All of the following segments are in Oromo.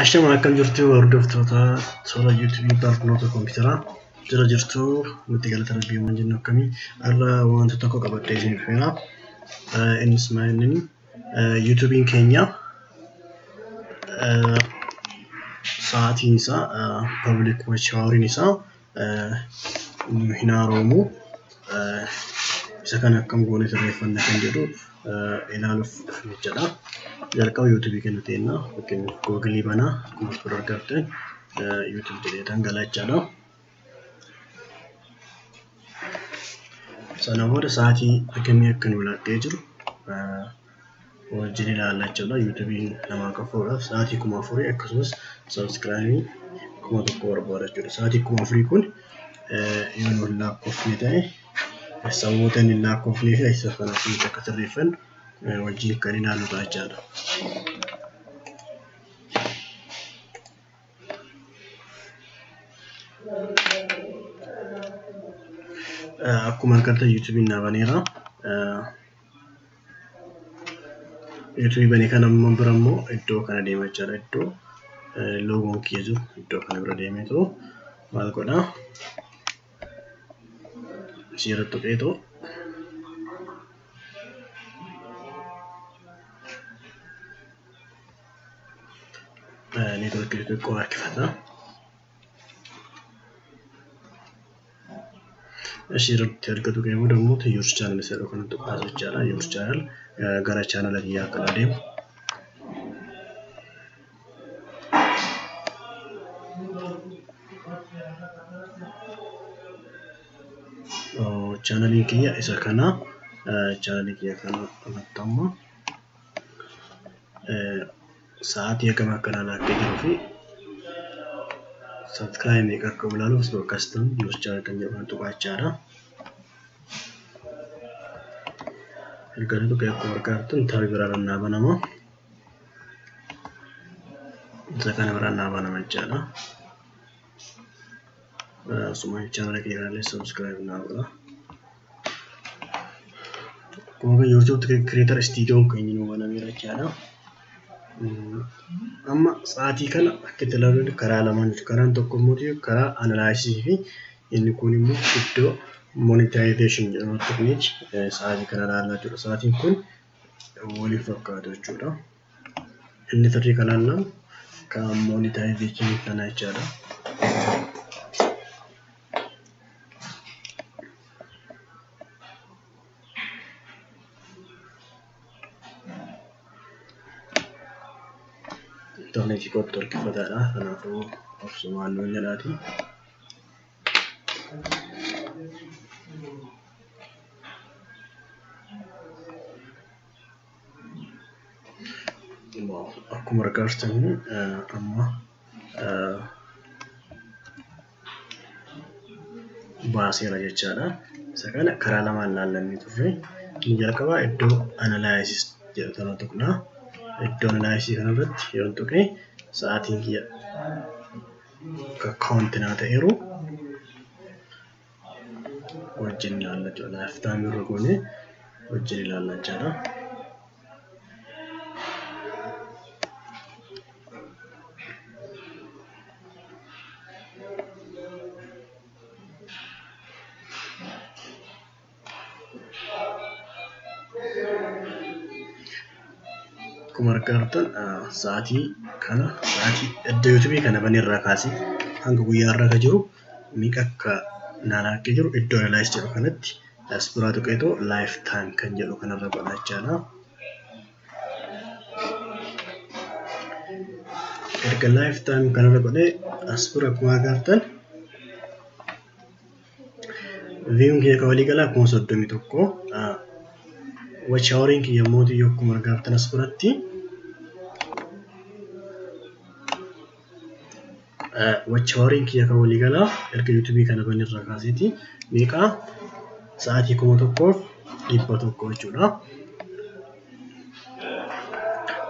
Ashama akkam jirtu hordoftoota toora YouTube barnoota kompiitaraa jira jirtu nuti galata rabbii waan jennu akkamii har'a wanta tokko qabadhee isin dhufeera. Innis maal inni YouTube'n keenya sa'aatiin isaa public watch houriin isaa nu hin haaroomu. Isa kana akkam goone sirreeffanna kan jedhu ilaaluuf dhufne jechuudha. Jalqaba yuutuubii keenya teenna fakkeenyaaf googilii banaa akkuma as bira argattan yuutuubii jedheetan gala jechuudha. Sana booda sa'aatii hagamii akka nu laaqee jiru wajjin ilaalla jechuudha. Yuutuubiin namaa qafuudhaaf sa'aatii kuma afurii akkasumas sabiskiraayimii kuma tokko barbaada jechuudha. Sa'aatii kuma afurii kun yoo nuun lakkoofne ta'e sababoota inni lakkoofnee fi isa kana akkamitti akka sirreeffannu wajjin kan ilaallu ta'a jechaadha. Akkuma argattan yuutuubiin naa baneera. Errii bane kana amma bira immoo iddoo kana deema jechaadha. Iddoo loogoon kiyya jiru iddoo kana bira deemee too maal godhaa? Ishee irratti tuqee too neetworkii xixiqqoo harkifata. asirratti erga tuqee booda immoo yuus chaanal isa jedhu kana tuqaa jechaadha yuus chaanal gara chaanala biyyaa akka adeemu chaanalii kiyya isa kana chaanalii kiyya kana irratti ammoo sa'aatii hagam akka ilaalaa akka jiru fi subscribe meeqa akka ilaalu osoo akkas ta'u news channel kan jedhu kan tuqaachaadha. Erga inni tuqee akkuma argaa jirtan tabi biraa irra naa banama. Isa kana biraa naa banama jechaadha. Suma channel keenyaalee subscribe naa godha. Akkuma kan YouTube creator studio keenya nu banameera jechaadha. Amma sa'aatii kana akka itti ilaaluun karaa lamaan jiru. Karaan tokko immoo karaa analysis fi inni kun immoo iddoo monetization jedhamu tuqneeti sa'aatii kana ilaalaa jiru. Sa'aatiin kun waliin fakkaatu jechuudha. Inni sirrii kan hanna kan monetization kana jechaadha. Intarneetii kootti horkifataadha. Kanaafuu obsumaan nuun jedhaati. akkuma argaa jirtan amma baaseera jechaadha. Isa kana karaa lamaan ilaallamee turre. Inni jalqabaa iddoo analysis jedhu kana tuqna. Iddoo analysis kanarratti yoo tuqe sa'aatiin kiyya kaawunti naa ta'eeru. wajjin ilaalla jechuudha. Laayif taayimii irra goonee wajjin ilaalla jechaadha. Akkuma argaa jirtan sa'aatii kana sa'aatii edda yuutubii kana banee irraa kaasee hanga guyyaa irra jiru Meeqa akka naa laakkee jiru iddoo analyze jedhu kanatti as duraa tuqeetoo life time kan jedhu kanarra godha jechaadha. Erga life time kanarra godhee as dura akkuma agartan viewin kiyya kan walii galaa kuma soddomii tokko watch hourin kiyya immoo yoo akkuma agartan as duratti Wachaawariin kiyya kan waliigalaa erga yuutuubii kana bane irraa kaaseeti meeqaa sa'aatii kuma tokkoof dhibba tokko jechuudha.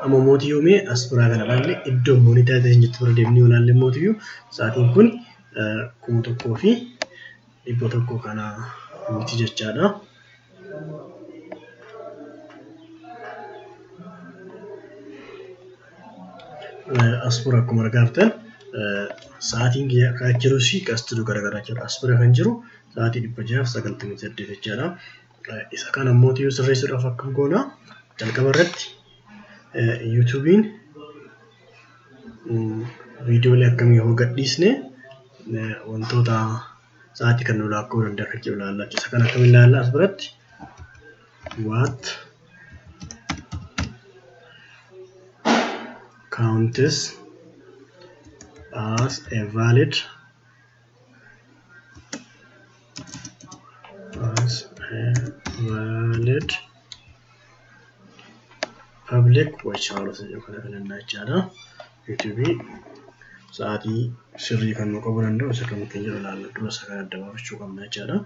Amma mootii yoomee as biraa kana ilaalle iddoo moonitaayizeeshin jettu bira deemnee yoo ilaalle mootiyyuu sa'aatiin kun kuma tokkoo fi dhibba tokko kana miti jechaadha. Asfura akkuma argaaftan sa'aatiin kan jiru si qastidu garaagaraa jira. Asfura kan jiru sa'aatii dhibba jaaf sagaltamii saddeet jechaadha. Isa kana immoo yoo sirreessuudhaaf akkam goona jalqaba irratti yuutuubiin viidiyoolee akkamii yoo gadhiisne wantoota sa'aatii kan nu laakkoo danda'a kan jiru ilaalla jechuudha. Isa kana akkam ilaalla as biratti? What counts as a valid valid public watch hours jedhu kana filanna jechaadha. YouTube sa'aatii sirrii kan nu qabu danda'u isa kan keenya jiru ilaalla dura isa kan adda baafachuu qabna jechaadha.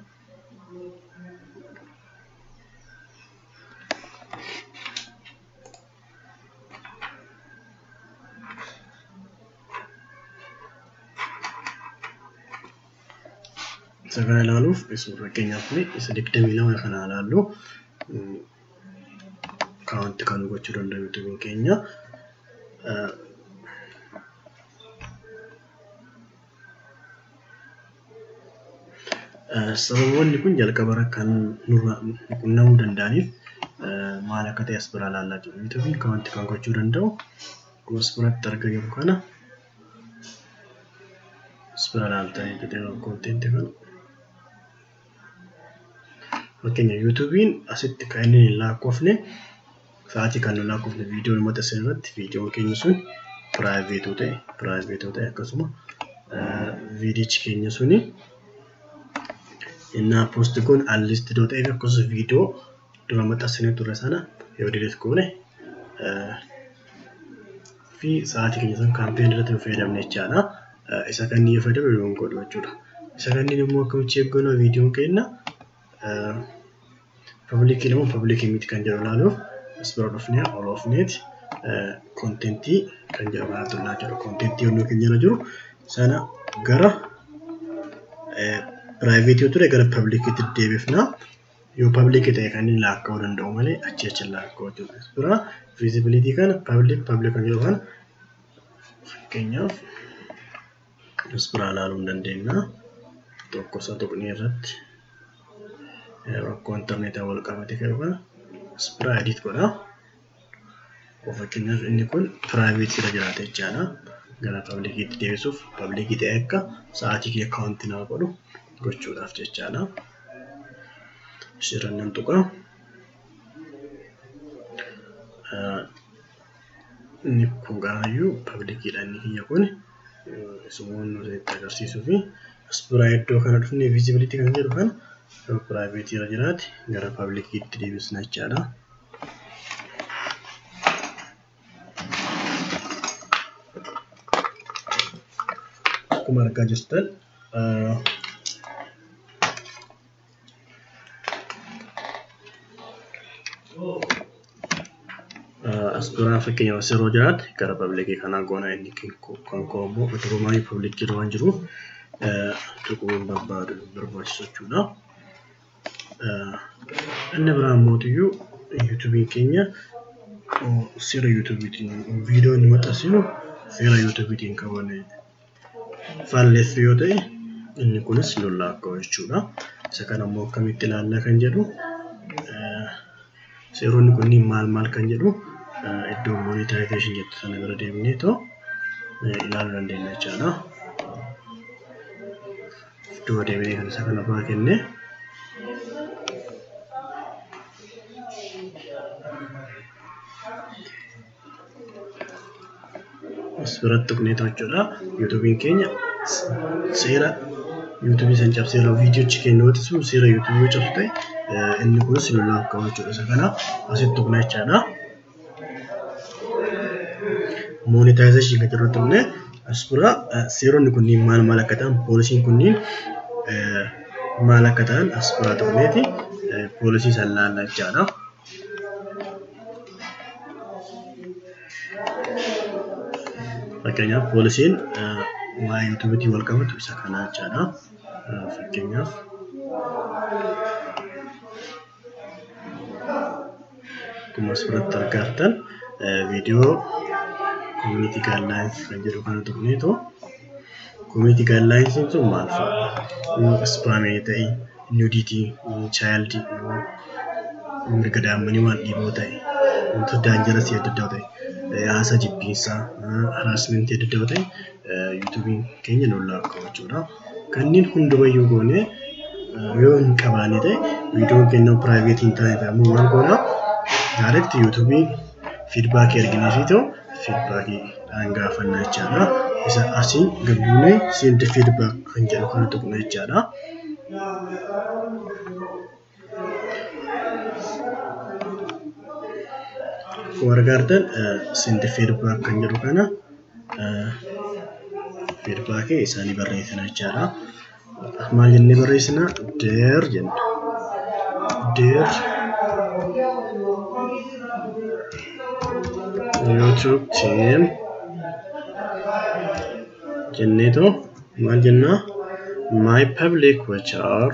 Isa kana ilaaluuf fakkeenyaaf isa digdamii lama kana ilaallu kaawwanti kan gochuu danda'u yuutuubiin keenya. Sababoonni kun jalqabarra kan nurra qunnamuu danda'aniif maal akka ta'e as biraa ilaallaa jiru. Wanti kun kan wanti kan gochuu danda'u akkuma as biratti argaa jirru kana as bira ilaaltanii konteentii kana. Fakkeenya yuutuubiin asitti kan inni hin lakkoofne sa'aatii kan hin lakkoofne viidiyoon uummata isin irratti viidiyoon keenya sun piraayiveetuu ta'e piraayiveetuu ta'e akkasuma viidiyichi keenya suni innaa poosti kun alliisti doo ta'eef akkasumas viidiyoo dura maxxansinee turre sana yoo dileet goone fi sa'aatii keenya san kaampeen irratti hin fayyadamne jechaadha. Isa kan yoo fayyadamne nu hin godhu jechuudha. Isa kanneen immoo akkamitti cheek goona viidiyoon keenya pabliikii immoo pabliikii miti kan jedhu ilaaluuf as bira dhufnee ol oofneeti kontentii kan jedhu kana tuqnaa jechuudha. Kontentii yommuu keenya irra jiru sana gara piraayiveetii ture gara pabliikiitti deebifna. yoo public ta'e kan inni laakka'uu danda'u malee achi achi laakka'uu jechuudha. Dura visibility kana public public kan jedhu kana fakkeenyaaf as biraa ilaaluu hin dandeenya. Tokko isa tuqnee irratti rakkoo intarneetaa wal qabate kan kana as biraa edit godha. Fakkeenyaaf inni kun private irra jiraata jechaadha. Gara public itti deebisuuf public ta'e akka sa'aatii kee account naa godhu gochuudhaaf jechaadha. Asirran nan tuqa. Inni kun gaayyuu publicdha inni kiyya kun sumuun nuti itti agarsiisuu fi as biraa iddoo kana dhufne visibility kan jedhu kan private irra jiraate gara public itti deebisna jechaadha. akkuma argaa jirtan as duraa fakkeenyaaf as yeroo jiraate gara pabliikii kanaa goona inni kan koo immoo durumaa pabliikii waan jiruuf tuquun barbaadu barbaachisu jechuudha. Inni biraa mootiyyuu yuutuubiin keenya seera yuutuubiitiin viidiyoo inni maxxansinu seera yuutuubiitiin qaban faalleessu yoo ta'e inni kunis lollaa akka jechuudha. Isa kana immoo akkamitti ilaallaa kan jedhu seeronni kunniin maal maal kan jedhu iddoo monetization jettu sana bira deemnee too ilaaluu dandeenya jechaadha. iddoo deebinee kan isa kana biraa kenne as biratti tuqnee jechuudha yuutuubiin keenya seera yuutuubii san cabsee irraa viidiyoochi kennuuti sun seera yuutuubii yoo cabsu ta'e inni kunis nu laaf qabachuudha isa kana asitti tuqna jechaadha. Monetization kan jirrutti illee as bira seeronni kunniin maal maal akka ta'an poolisiin kunniin maal akka ta'an as bira ta'uneeti poolisii san laalla jechaadha. Fakkeenyaaf poolisiin waa'ee yuutuubiitiin wal qabatu isa kanaa jechaadha. Fakkeenyaaf. Akkuma asirratti argaa jirtan viidiyoo koominiitii gaayidlaayinsi kan jedhu kana tuqneetu koominiitii gaayidlaayinsiin sun maal fa'a? Yoo ispaamee ta'e, nuudiitii, chaayildii, mirga daa'immanii waan dhiiboo ta'e, wantoota daanjarasii adda addaa ta'e, haasa jibbiinsaa, haraasmentii adda addaa ta'e yuutuubiin keenya nuun laakka'u jechuudha. Kanneen hundumayyuu goonee yoo hin qabaanne ta'e viidiyoon keenya piraayiveetii hin taane ta'a. Ammoo maal goona? Direct YouTube fiidbaakii arginee fi ta'u fiidbaakii dhaan gaafanna jechaadha. Isa asii gad buunee send feedback kan jedhu kana tuqna jechaadha. wargaartan sinti feedback kan jedhu kana feedback isaanii barreessina jechaadha. Maal jennee barreessina? Deer jenna. Deer YouTube team jenneetu maal jennaa my public which are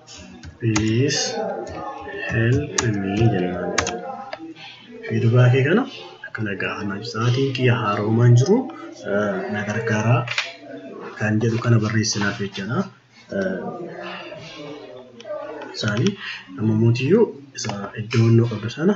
please help me jennaan fiidbaakii kana akkana gaafannaa sa'aatiin kiyya haaroomaan jiru na gargaaraa kan jedhu kana barreessinaaf jechaadha. Isaanii amma mootiyyuu isa iddoo qabdu sana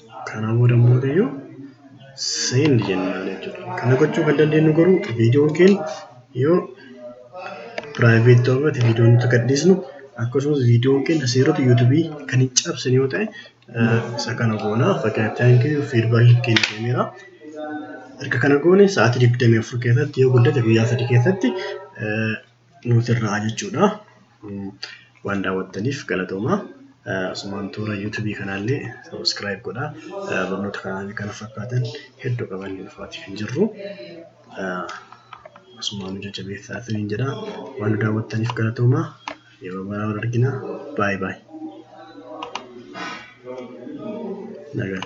Kanaa booda immoo ta'eyyuu send jennaan jechuudha. Kana gochuu kan dandeenyu garuu viidiyoon keenya yoo private ta'uu baate viidiyoon nuti gadhiisnu akkasumas viidiyoon keenya seerota yuutubii kan hin cabsine yoo ta'e isa kana goona fakkeenyaaf thank you feedback keenya kenneera. Erga kana goone sa'aatii 24 keessatti yoo guddate guyyaa sadii keessatti nuti irraa jechuudha. Waan daawwattaniif galatooma. Asumaan toora yuutuubii kanaallee sabiskiraayib godha. Barnoota kanaan kana fakkaatan hedduu qaban dhufaatii kan jirru. Asumaan nu jajjabeessaa isiniin jedha. Waan nu daawwattaniif galatooma. Yeroo biraa wal argina. Baay baay. Nagaan.